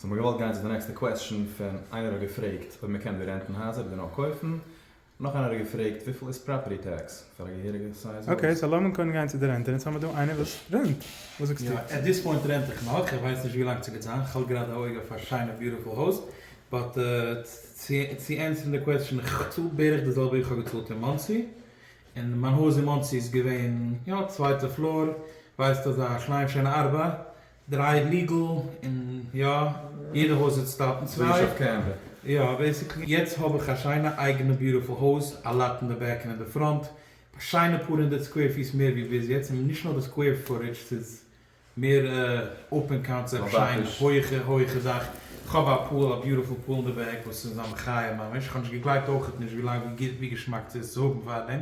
זיי האבן געוואלט גיין צו די נעקסטע קוועסטשן פון איינער האט געפרעגט אויב מען קען דא רענטן הייזער אדער נאר קויפן, נאך איינער האט געפרעגט וויפיל איז פראפערטי טעקס פאר א געהעריגע סייז הויז. אקעי, סאו לאמיר קודם גיין צו די רענטען, יעצט האמיר דא איינער וואס רענט, וואס זאגסטו? יא, עט דיס פוינט רענט איך נאך, איך ווייס נישט ווי לאנג ס'גייט זיין, כ'האלט גראדע א אויג אויף א שיינע ביוטיפול הויז, באט צו ענטפערן די קוועסטשן, איך צאל בערך די זעלבע ווי כ'האב געצאלט אין מאנסי, און מיין הויז אין מאנסי איז געווען יא צווייטע פלאר, ווייסט אזא קליין שיינע ארבע, דריי ליגעל און יא יעדע הויז האט סטארט און צוויי יא בעסיקלי יעצט האב איך א שיינע אייגענע ביוטיפול הויז א לאט אין די בעק און אין די פראנט א שיינע פאר הונדערט סקווער פיס מער ווי ביז יעצט און נישט נאר די סקווער פוטעדזש ס'איז מער אפען קאנצעפט שיין הויעכע הויעכע דאך כ'האב א פול א ביוטיפול פול אין די בעק וואס איז א מחיה ממש כ'האב נישט געגלייבט אויכעט נישט ווי לאנג ווי גוט ווי געשמאק ס'איז צו האבן פארדעם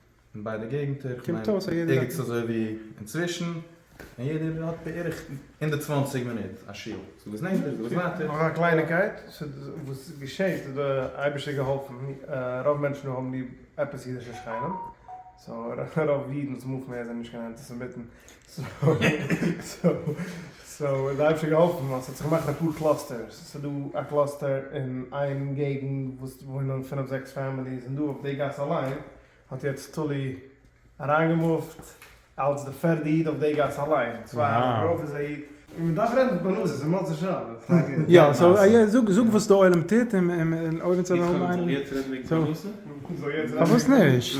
אין ביידע געגנטער, איך מיין ערגעץ אזוי ווי אינצווישן, און יעדער האט בערך הונדערט צוואַנציק מינוט א שעה, ס'איז וואס נענטער ס'איז וואס ווייטער. נאך א קלייניקייט, וואס געשעהט איז דער אייבערשטער געהאלפן, רוב מענטשן האבן ליב עפעס אידישע שכנים, סאו רוב אידן צומאל מער זענען נישט קיין אנטיסעמיטן, סאו איז אייביג שוין געהאלפן ווייל ס'האט זיך געמאכט אפאר קלאסטערס, ס'דא א קלאסטער אין איין געגענט וואס וואוינען פינף זעקס פעמיליס און דא אויף די גאס אליין האט יעצט תולי אריינגעמופט אלץ די פערדע איד אויף די גאס אליין, צוויי יאר דערויף איז א איד. און מען דארף רעדן פרנסה פון מוצאי שבת. יא סאו זאג זאג וואס די עולם טוט און אויב אונז האבן איינעם. איך זאל יעצט רעדן וועגן פרנסה? פארוואס נישט?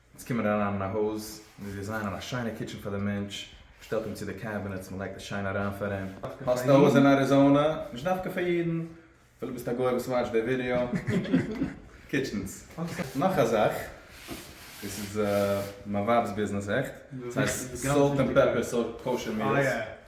אונז קומען אריין אין א הויז, מיר דיזיינען א שיינע קיטשען פאר די מענטש, מען שטעלט אים צו די קעבינעטס, מען לייגט עס שיין אריין פאר אים. האסט א הויז אין אריזאנע? נישט דווקא פאר אידן, אפילו ביסט א גוי וואס וואטשט די ווידעא. קיטשענס. נאך א זאך, דאס איז מיין ווייב'ס ביזנעס, עכט? ס'הייסט סאלט ענד פעפער סארט קאושער מיעלס.